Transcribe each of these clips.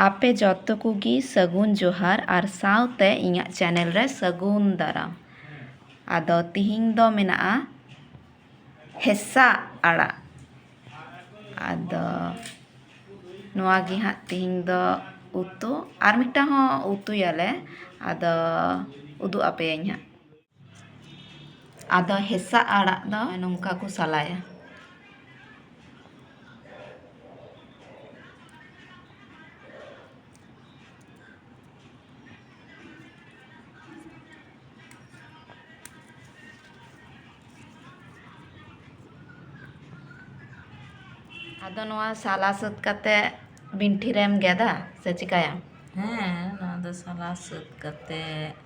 ᱟᱯᱮ ᱡᱚᱛᱚ ᱠᱚᱜᱮ ᱥᱟᱹᱜᱩᱱ ᱡᱚᱦᱟᱨ ᱟᱨ ᱥᱟᱶᱛᱮ ᱤᱧᱟᱹᱜ ᱪᱮᱱᱮᱞ ᱨᱮ ᱥᱟᱹᱜᱩᱱ ᱫᱟᱨᱟᱢ ᱟᱫᱚ ᱛᱮᱦᱮᱧ ᱫᱚ ᱢᱮᱱᱟᱜᱼᱟ ᱦᱮᱸᱥᱟᱜ ᱟᱲᱟᱜ ᱟᱫᱚ ᱱᱚᱣᱟ ᱜᱮ ᱦᱟᱸᱜ ᱛᱮᱦᱮᱧ ᱫᱚ ᱩᱛᱩ ᱟᱨ ᱢᱤᱫᱴᱟᱝ ᱦᱚᱸ ᱩᱛᱩᱭᱟᱞᱮ ᱟᱫᱚ ᱩᱫᱩᱜ ᱟᱯᱮᱭᱟᱹᱧ ᱦᱟᱸᱜ ᱟᱫᱚ ᱦᱮᱸᱥᱟᱜ ᱟᱲᱟᱜ ᱫᱚ ᱱᱚᱝᱠᱟ ᱠᱚ ᱥᱟᱞᱟᱭᱟ ᱟᱫᱚ ᱱᱚᱣᱟ ᱥᱟᱞᱟ ᱥᱟᱹᱛ ᱠᱟᱛᱮ ᱵᱤᱱᱴᱷᱤ ᱨᱮᱢ ᱜᱮᱫᱟ ᱥᱮ ᱪᱤᱠᱟᱹᱭᱟᱢ ᱦᱮᱸ ᱱᱚᱣᱟ ᱫᱚ ᱥᱟᱞᱟ ᱥᱟᱹᱛ ᱠᱟᱛᱮ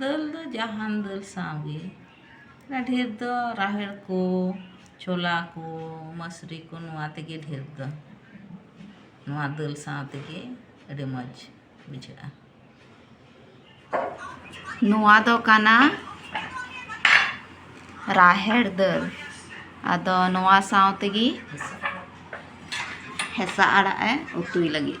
ᱫᱟᱹᱞ ᱫᱚ ᱡᱟᱦᱟᱱ ᱫᱟᱹᱞ ᱥᱟᱶᱜᱮ ᱰᱷᱮᱨ ᱫᱚ ᱨᱟᱦᱮᱲ ᱠᱚ ᱪᱷᱚᱞᱟ ᱠᱚ ᱢᱟᱹᱥᱨᱤ ᱠᱚ ᱱᱚᱣᱟ ᱛᱮᱜᱮ ᱰᱷᱮᱨ ᱫᱚ ᱱᱚᱣᱟ ᱫᱟᱹᱞ ᱥᱟᱶ ᱛᱮᱜᱮ ᱟᱹᱰᱤ ᱢᱚᱡᱽ ᱵᱩᱡᱷᱟᱹᱜᱼᱟ ᱱᱚᱣᱟ ᱫᱚ ᱠᱟᱱᱟ ᱨᱟᱦᱮᱲ ᱫᱟᱹᱞ ᱟᱫᱚ ᱱᱚᱣᱟ ᱥᱟᱶ ᱛᱮᱜᱮ ᱦᱮᱸᱥᱟ ᱟᱲᱟᱜ ᱮ ᱩᱛᱩᱭ ᱞᱟᱹᱜᱤᱫ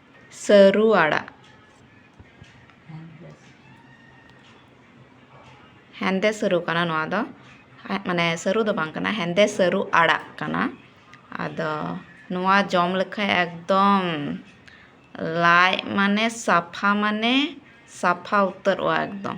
ᱥᱟᱹᱨᱩ ᱟᱲᱟᱜ ᱦᱮᱸᱫᱮ ᱥᱟᱹᱨᱩ ᱠᱟᱱᱟ ᱱᱚᱣᱟ ᱫᱚ ᱢᱟᱱᱮ ᱥᱟᱹᱨᱩ ᱫᱚ ᱵᱟᱝ ᱠᱟᱱᱟ ᱦᱮᱸᱫᱮ ᱥᱟᱹᱨᱩ ᱟᱲᱟᱜ ᱠᱟᱱᱟ ᱟᱫᱚ ᱱᱚᱣᱟ ᱡᱚᱢ ᱞᱮᱠᱷᱟᱱ ᱮᱠᱫᱚᱢ ᱞᱟᱡ ᱢᱟᱱᱮ ᱥᱟᱯᱷᱟ ᱢᱟᱱᱮ ᱥᱟᱯᱷᱟ ᱩᱛᱟᱹᱨᱚᱜᱼᱟ ᱮᱠᱫᱚᱢ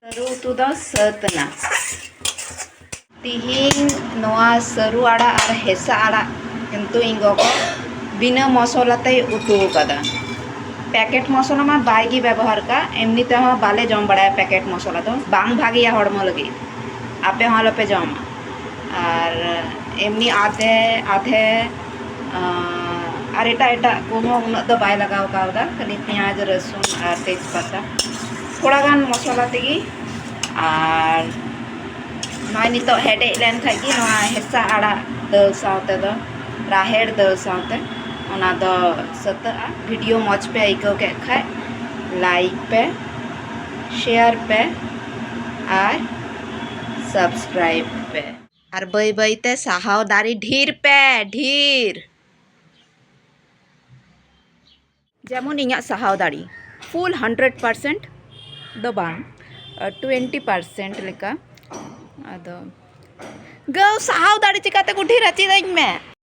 ᱥᱟᱹᱨᱩ ᱩᱛᱩ ᱫᱚ ᱥᱟᱹᱛ ᱮᱱᱟ ᱛᱤᱦᱤᱧ ᱱᱚᱣᱟ ᱥᱟᱹᱨᱩ ᱟᱲᱟᱜ ᱟᱨ ᱦᱮᱸᱥᱟ ᱟᱲᱟᱜ ᱠᱤᱱᱛᱩ ᱤᱧ ᱜᱚᱜᱚ ᱵᱤᱱᱟᱹ ᱢᱚᱥᱚᱞᱟ ᱛᱮᱭ ᱩᱛᱩ ᱟᱠᱟᱫᱟ ᱯᱮᱠᱮᱴ ᱢᱚᱥᱚᱞᱟ ᱢᱟ ᱵᱟᱭ ᱜᱮ ᱵᱮᱵᱚᱦᱟᱨ ᱠᱟᱜ ᱮᱢᱱᱤ ᱛᱮᱦᱚᱸ ᱵᱟᱞᱮ ᱡᱚᱢ ᱵᱟᱲᱟᱭᱟ ᱯᱮᱠᱮᱴ ᱢᱚᱥᱚᱞᱟ ᱫᱚ ᱵᱟᱝ ᱵᱷᱟᱜᱮᱭᱟ ᱦᱚᱲᱢᱚ ᱞᱟᱹᱜᱤᱫ ᱟᱯᱮ ᱦᱚᱸ ᱟᱞᱚᱯᱮ ᱡᱚᱢᱟ ᱟᱨ ᱮᱢᱱᱤ ᱟᱫᱮ ᱟᱫᱷᱮ ᱟᱨ ᱮᱴᱟᱜ ᱮᱴᱟᱜ ᱠᱚᱦᱚᱸ ᱩᱱᱟᱹᱜ ᱫᱚ ᱵᱟᱭ ᱞᱟᱜᱟᱣ ᱠᱟᱣᱫᱟ ᱠᱷᱟᱹᱞᱤ ᱯᱮᱸᱭᱟᱡᱽ ᱨᱟᱹᱥᱩᱱ ᱟᱨ ᱛᱮᱡᱽ ᱯᱟᱛᱟ ᱛᱷᱚᱲᱟ ᱜᱟᱱ ᱢᱚᱥᱞᱟ ᱛᱮᱜᱮ ᱟᱨ ᱱᱚᱜᱼᱚᱭ ᱱᱤᱛᱚᱜ ᱦᱮᱰᱮᱡ ᱞᱮᱱᱠᱷᱟᱱ ᱜᱮ ᱱᱚᱣᱟ ᱦᱮᱸᱥᱟᱜ ᱟᱲᱟᱜ ᱫᱟᱹᱞ ᱥᱟᱶ ᱛᱮᱫᱚ ᱨᱟᱦᱮᱲ ᱫᱟᱹᱞ ᱥᱟᱶᱛᱮ ᱚᱱᱟ ᱫᱚ ᱥᱟᱹᱛᱟᱹᱜᱼᱟ ᱵᱷᱤᱰᱤᱭᱳ ᱢᱚᱡᱽ ᱯᱮ ᱟᱹᱭᱠᱟᱹᱣ ᱠᱮᱫ ᱠᱷᱟᱱ ᱞᱟᱭᱤᱠ ᱯᱮ ᱥᱮᱭᱟᱨ ᱯᱮ ᱟᱨ ᱥᱟᱵᱥᱠᱨᱟᱭᱤᱵᱽ ᱯᱮ ᱟᱨ ᱵᱟᱹᱭ ᱵᱟᱹᱭ ᱛᱮ ᱥᱟᱦᱟᱣ ᱫᱟᱨᱮ ᱰᱷᱤᱨ ᱯᱮ ᱰᱷᱤᱨ ᱡᱮᱢᱚᱱ ᱤᱧᱟᱹᱜ ᱥᱟᱦᱟᱣ ᱫᱟᱲᱮ ᱯᱷᱩᱞ ᱦᱟᱱᱰᱨᱮᱰ ᱯᱟᱨᱥᱮᱱᱴ ᱫᱚ ᱵᱟᱝ ᱴᱩᱭᱮᱱᱴᱤ ᱯᱟᱨᱥᱮᱱᱴ ᱞᱮᱠᱟ ᱟᱫᱚ ᱜᱟᱹᱣ ᱥᱟᱦᱟᱣ ᱫᱟᱲᱮ ᱪᱤᱠᱟᱹᱛᱮ ᱠᱚ ᱰᱷᱤᱨᱟ ᱪᱮᱫ ᱟᱹᱧ ᱢᱮ